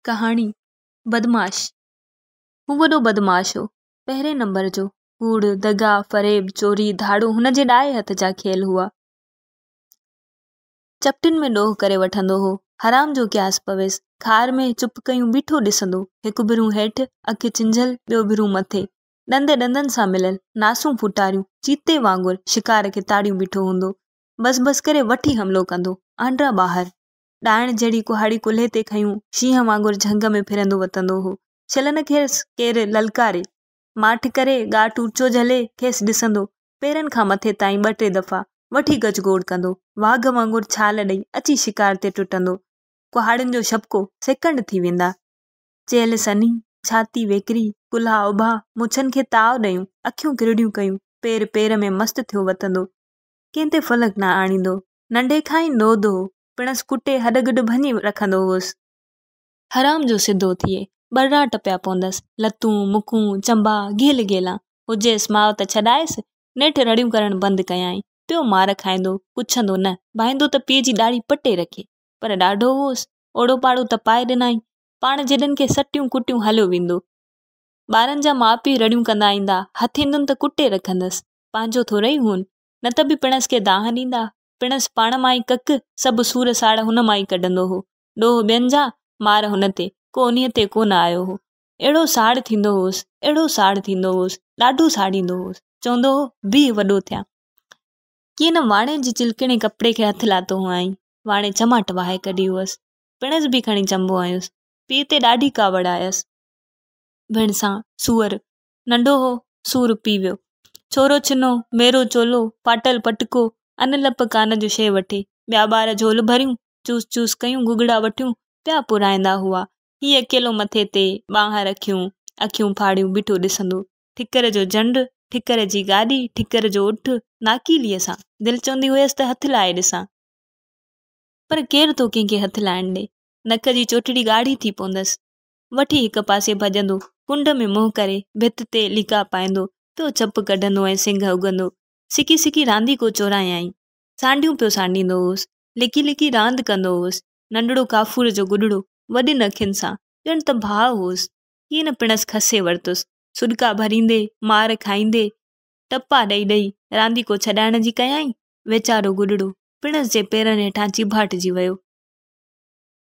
ڪهاڻي، بدمعاش هو وڏو بدمعاش هو. پهرين نمبر جو. ڪوڙ، دغا، فريب، چوري، ڌاڙو هن جي ڏائي هٿ جا کيل هئا. چپٽين ۾ ڏوهه ڪري وٺندو هو. حرام جو قياس پويس. خار ۾ چپ ڪيون بيٺو ڏسندو. هڪ ڀرون هيٺ، اک چنجهيل، ٻيو ڀرون مٿي. ڏند ڏندن سان مليل، ناسون ڦوٽاريون، چيتي وانگر شڪار کي تاڙيون بيٺو هوندو. بس بس ڪري وٺي حملو ڪندو. آنڊرا ٻاهر. ڏائڻ جهڙي ڪهاڙي ڪلهي تي کنيون شينهن وانگر جهنگ ۾ ڦرندو وتندو هو. ڇلن کيس ڪير للڪاري، ماٺ ڪري، ڳاهه ٽوٽچو جهلي، کيس ڏسندو، پيرن کان مٿي تائين ٻه ٽي دفعا وٺي گج گوڙ ڪندو، واگهه وانگر ڇال ڏئي اچي شڪار تي ٽٽندو. ڪهاڙين جو شبڪو سيڪنڊ ٿي ويندا. چيلهه سنهي، ڇاتي ويڪري، ڪلها اڀا، مڇن کي تاء ڏيون، اکيون ڪرڙيون ڪيون، پير پير ۾ مست ٿيو وتندو. ڪنهن تي فلڪ نه آڻيندو، ننڍي کان ئي نوڌ هو، پڻس ڪٽي هڏ گڏ ڀڃي رکندو هوس. حرام جو سڌو ٿئي، ٻرڙاٽ پيا پوندس، لتون، مکون، چنبا، گيل گيلان، هجيس ماء ته ڇڏائيس، نيٺ رڙيون ڪرڻ بند ڪيائين، پيو مار کائيندو، پڇندو نه، ڀائيندو ته پيء جي ڏاڙهي پٽي رکي، پر ڏاڍو هوس، اوڙو پاڙو ته پائي ڏنائين، پاڻ جيڏن کي سٽيون ڪٽيون هليو ويندو. ٻارن جا ماء پيء رڙيون ڪندا ايندا، هٿ ايندن ته ڪٽي رکندس، پنهنجو ٿورئي هون، نه ته به پڻس کي دانهن ڏيندا، پڻس پاڻ مان ئي ڪک، سڀ سور ساڙ هن مان ئي ڪڍندو هو. ڏوهه ٻين جا، مار هن تي، ڪو انهيء تي ڪو نه آيو هو. اهڙو ساڙ ٿيندو هوس، اهڙو ساڙ ٿيندو هوس، ڏاڍو ساڙيندو هوس، چوندو هو، بيهه وڏو ٿيان. ڪيئن نه واڻي جي چلڪڻي ڪپڙي کي هٿ لاتو هئائين، واڻي چماٽ وهائي ڪڍي هئس، پڻس به کڻي چنبو هنيس، پيء تي ڏاڍي ڪاوڙ آيس. ڀيڻسان، سوئر، ننڍو هو، سو روپي ويو. ڇورو ڇنو، ميرو چولو، ڦاٽل پٽڪو، ان لپ ڪان جو شيء وٺي، ٻيا ٻار جهول ڀريون، چوس چوس ڪيون گگڙا وٺيون پيا پورائيندا هئا. هي اڪيلو مٿي تي ٻانهن رکيون، اکيون ڦاڙيون بيٺو ڏسندو. ٺڪر جو جنڊ، ٺڪر جي گاڏي، ٺڪر جو اٺ، ناڪيليء سان. دل چوندي هيس ته هٿ لائي ڏسان. پر ڪير ٿو ڪنهن کي هٿ لائڻ ڏي. نڪ جي چوٽڙي ڳاڙهي ٿي پوندس. وٺي هڪ پاسي ڀڄندو، ڪنڊ ۾ منهن ڪري ڀت تي ليڪا پائيندو، پيو چپ ڪڍندو ۽ سنگهه اگهندو. سڪي سڪي رانديڪو چورايائين. سانڍيون پيو سانڍيندو هوس. لڪي لڪي راند ڪندو هوس. ننڍڙو ڪافور جو گڏڙو، وڏين اکين سان، ڄڻ ته ڀاء هوس. ڪين پڻس کسي ورتس. سڏڪا ڀريندي، مار کائيندي، ٽپا ڏئي ڏئي، رانديڪو ڇڏائڻ جي ڪيائين. ويچارو گڏڙو، پڻس جي پيرن هيٺان چيڀاٽجي ويو.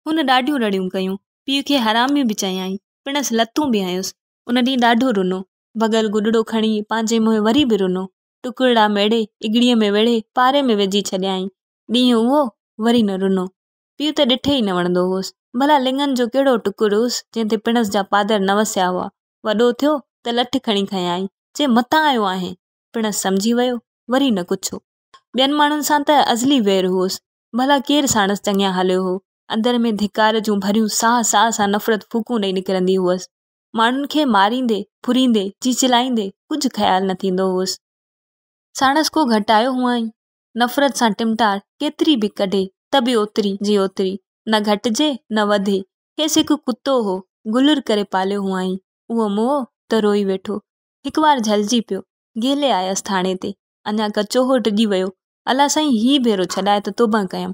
هن ڏاڍيون رڙيون ڪيون، پيء کي حرامي به چيائين، پڻس لتون به هنيس. ان ڏينهن ڏاڍو رنو. ڀڳل گڏڙو کڻي پنهنجي منهن وري به رنو. ٽڪرڙا ميڙي، اڳڙيء ۾ ويڙهي، پاري ۾ وجهي ڇڏيائين. ڏينهن اهو، وري نه رنو. پيء ته ڏٺي ئي نه وڻندو هوس. ڀلا لڱن جو ڪهڙو ٽڪر هوس، جنهن تي پڻس جا پادر نه وسيا هئا. وڏو ٿيو، ته لٺ کڻي کنيائين، چي متان آيو آهين! پڻس سمجهي ويو، وري نه ڪڇيو. ٻين ماڻهن سان ته ازلي وير هوس، ڀلا ڪير ساڻس چڱيان هليو هو؟ اندر ۾ ڌڪار جون ڀريون ساهه ساهه سان نفرت ڦوڪون ڏئي نڪرندي هئس. ماڻهن کي ماريندي، ڦريندي، چيچلائيندي ڪجهه خيال نه ٿيندو هئس. ساڻس ڪو گهٽايو هئائين؟ نفرت سان ٽمٽار ڪيتري به ڪڍي ته به اوتري جي اوتري، نه گهٽجي نه وڌي. کيس هڪ ڪتو هو، گلر ڪري پاليو هئائين. اهو موهه ته روئي ويٺو. هڪ وار جهلجي پيو. گهلي آيس ٿاڻي تي. اڃا ڪچو هو ڊڄي ويو. الا سائين هي ڀيرو ڇڏائي ته توبهه ڪيم.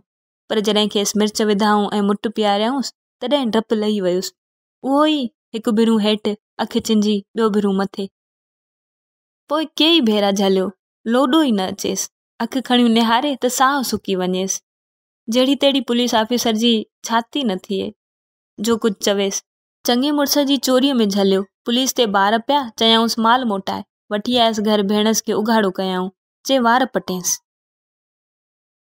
پر جڏهن کيس مرچ وڌائون ۽ مٽ پياريائونس تڏهن ڊپ لهي ويس. اهو ئي هڪ ڀيرو هيٺ اک چنجي ٻيو ڀيرو مٿي. پوء ڪيئي ڀيرا جهليو. لوڏو ئي نه اچيس. اک کڻيون نهاري ته ساهه سڪي وڃيس. جهڙي تهڙي پوليس آفيسر جي ڇاتي نه ٿئي. جو ڪجهه چويس. چڱي مڙس جي چوريء ۾ جهليو، پوليس تي بار پيا، چيائونس مال موٽائي، وٺي آيس گهر ڀيڻس کي اگهاڙو ڪيائون، جي وار پٽينس.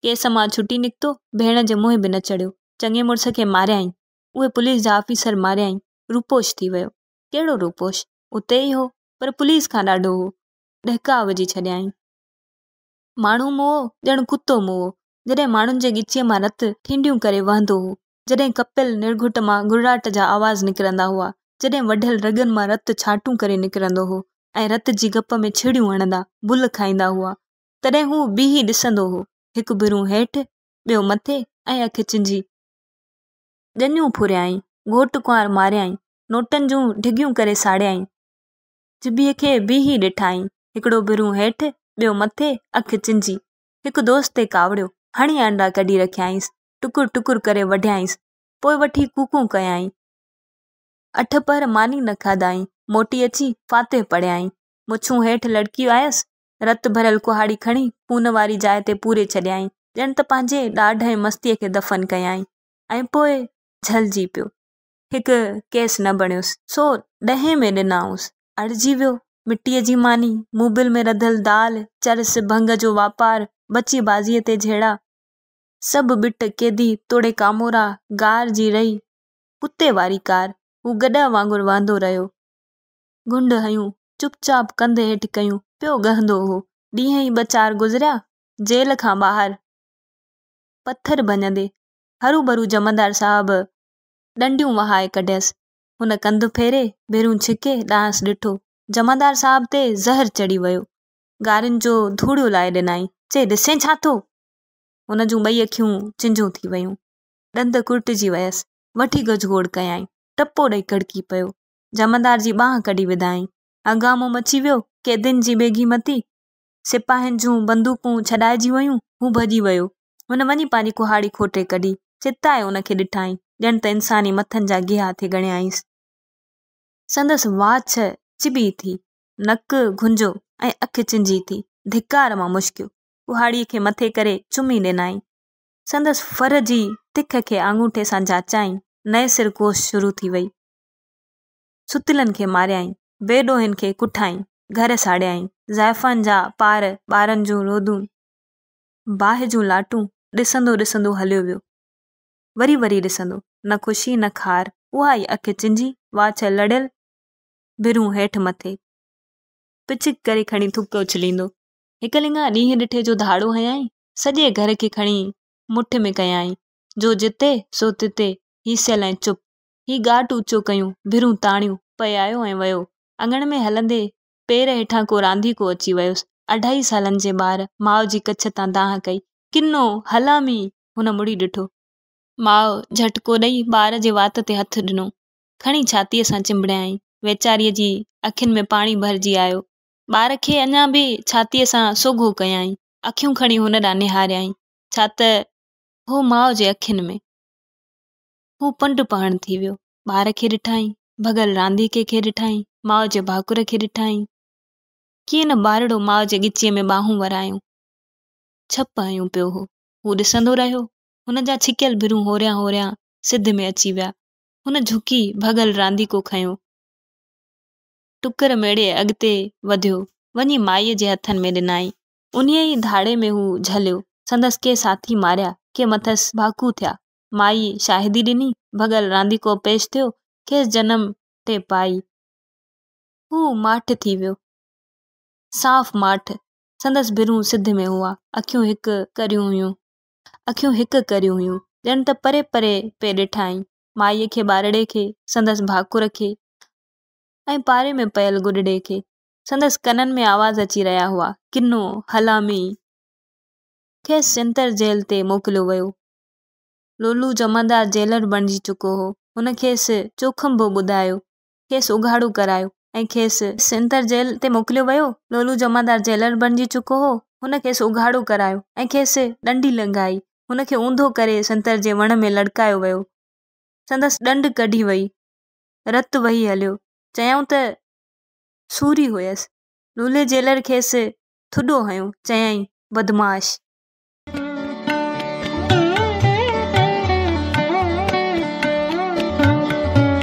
ڪيس مان ڇٽي نڪتو، ڀيڻ جي منهن به نه چڙهيو، چڱي مڙس کي ماريائين، اهي پوليس جا آفيسر ماريائين، روپوش ٿي ويو، ڪهڙو روپوش، اتي ئي هو، پر پوليس کان ڏاڍو هو، ڏهڪاء وجهي ڇڏيائين. ماڻهو موئو، ڄڻ ڪتو موئو، جڏهن ماڻهن جي ڳچيء مان رت ٺينڊيون ڪري وهندو هو، جڏهن ڪپيل نرگهٽ مان گڙراٽ جا آواز نڪرندا هئا، جڏهن وڍيل رڳن مان رت ڇانٽون ڪري نڪرندو هو ۽ رت جي گپ ۾ ڇيڙيون هڻندا بل کائيندا هئا، تڏهن هو بيهي ڏسندو هو، هڪ ڀرون هيٺ، ٻيو مٿي ۽ اک چنجي. ڄڃون ڦريائين، گهوٽ ڪنوار ماريائين، نوٽن جون ڍڳيون ڪري ساڙيائين، جبيء کي بيهي ڏٺائين، هڪڙو ڀرون هيٺ، ٻيو مٿي، اک چنجي. هڪ دوست تي ڪاوڙيو، هڻي آنڊا ڪڍي رکيائينس، ٽڪر ٽڪر ڪري وڍيائينس، پوء وٺي ڪوڪون ڪيائين. اٺ پهر ماني نه کاڌائين، موٽي اچي فاتح پڙهيائين. مڇون هيٺ لڙڪي آيس، رت ڀريل ڪهاڙي کڻي خون واري جاء تي پوري ڇڏيائين، ڄڻ ته پنهنجي ڏاڍ ۽ مستيء کي دفن ڪيائين ۽ پوء جهلجي پيو. هڪ ڪيس نه بڻيس، سو ڏهين ۾ ڏنائونس. اڙجي ويو. مٽيء جي ماني، موبل ۾ رڌل دال، چرس، ڀنگ جو واپار، ٻچي بازيء تي جهيڙا. سڀ ٻٽ قيدي توڙي ڪامورا غار جي رهي ڪتي واري ڪار هو گڏهه وانگر وهندو رهيو. گهنڊ هنيون چپ چاپ ڪنڌ هيٺ ڪيون پيو ڳهندو هو. ڏينهن ئي ٻه چار گذريا جيل کان ٻاهر پٿر ڀڃندي هروڀرو جمعدار صاحب ڏنڊيون وهائي ڪڍيس. هن ڪنڌ ڦيري ڀيرون ڇڪي ڏانهس ڏٺو. جمعدار صاحب تي زهر چڙهي ويو. ڳارين جو ڌوڙيو لائي ڏنائين. چي ڏسين ڇا ٿو؟ هن جون ٻئي اکيون چنجون ٿي ويون. ڏند ڪرٽجي ويس. وٺي گجگوڙ ڪيائين. ٽپو ڏئي ڪڙڪي پيو. جمعدار جي ٻانهن ڪڍي وڌائين. هنگامو مچي ويو. قيدين جي بيگهي متي. سپاهين جون بندوقون ڇڏائجي ويون. هو ڀڄي ويو. هن وڃي پنهنجي ڪهاڙي کوٽي ڪڍي. چتائي ان کي ڏٺائين. ڄڻ ته انساني مٿن جا گيها ٿي ڳڻيائينس. سندس واڇ چٻي ٿي. نڪ گهنجو ۽ اک چنجي ٿي. ڌڪار مان مشڪيو. ڪهاڙي کي مٿي ڪري چمي ڏنائين. سندس ڦر جي تک کي آڱوٺي سان جاچيائين. نئين سر ڪوشش شروع ٿي وئي. ستيلن کي ماريائين. بي ڏوهين کي ڪٺائين. گهر ساڙيائين. زائفان جا پار، ٻارن جون رودون، باهه جون لاٽون ڏسندو ڏسندو هليو ويو. وري وري ڏسندو. نه خوشي نه خار. اها ئي اک چنجي، واڇ لڙيل، ڀرون هيٺ مٿي. پچڪ ڪري کڻي ٿڪ اڇليندو. هڪ لڱا ڏينهن ڏٺي جو ڌاڙو هنيائين، سڄي گهر کي کڻي مٺ ۾ ڪيائين، جو جتي سو تتي، هي سيل ۽ چپ، هي ڳاٽ اوچو ڪيون، ڀرون تاڻيون، پيايو ۽ ويو. اڱڻ ۾ هلندي پير هيٺان ڪو رانديڪو اچي ويس، اڍائي سالن جي ٻار، ماء جي ڪڇ تان دانهن ڪئي، ڪنو، هلامي! هن مڙي ڏٺو. ماء جهٽڪو ڏئي ٻار جي وات تي هٿ ڏنو، کڻي ڇاتيء سان چنبڙيائين، ويچاريء جي اکين ۾ پاڻي ڀرجي آيو، ٻار کي اڃا به ڇاتيء سان سوگهو ڪيائين. اکيون کڻي هن ڏانهن نهاريائين، ڇا ته هو ماء جي اکين ۾. هو پنڊ پهڻ ٿي ويو. ٻار کي ڏٺائين، ڀڳل رانديڪي کي ڏٺائين، ماء جي ڀاڪر کي ڏٺائين. ڪيئن نه ٻارڙو ماء جي ڳچيء ۾ ٻانهون ورايون، ڇپ هنيون پيو هو. هو ڏسندو رهيو. هن جا ڇڪيل ڀرون هوريان هوريان سڌ ۾ اچي ويا. هن جهڪي ڀڳل رانديڪو کنيو. ٽڪر ميڙي اڳتي وڌيو، وڃي مائيء جي هٿن ۾ ڏنائين. انهيء ئي ڌاڙي ۾ هو جهليو، سندس ڪي ساٿي ماريا، ڪي مٿس ڀاڪو ٿيا. مائيء شاهدي ڏني، ڀڳل رانديڪو پيش ٿيو، کيس جنم ٽي پائي. هو ماٺ ٿي ويو، صاف ماٺ. سندس ڀرون سڌ ۾ هئا، اکيون هڪ ڪريون هيون. اکيون هڪ ڪريون هيون، ڄڻ ته پري پري پئي ڏٺائين. مائيء کي ٻارڙي کي، سندس ڀاڪر کي، ۽ پاري ۾ پيل گڏڙي کي سندس ڪنن ۾ آواز اچي رهيا هئا، ڪنو، حلامي، کيس چنتر جيل تي موڪليو ويو. لولو جمعدار جيلر بڻجي چڪو هو. هن کيس چوکنڀو ٻڌايو، کيس اگهاڙو ڪرايو ۽ کيس. چنتر جيل تي موڪليو ويو. لولو جمعدار جيلر بڻجي چڪو هو. هن کيس اگهاڙو ڪرايو ۽ کيس ڏنڊي لنگهائي. هن کي اونڌو ڪري سنتر جي وڻ ۾ لڙڪايو ويو. سندس ڏنڊ ڪڍي وئي. رت وهي هليو. چيائون ته سوري هئس. لولي جيلر کيس ٿڏو هنيو. چيائين، بدمعاش!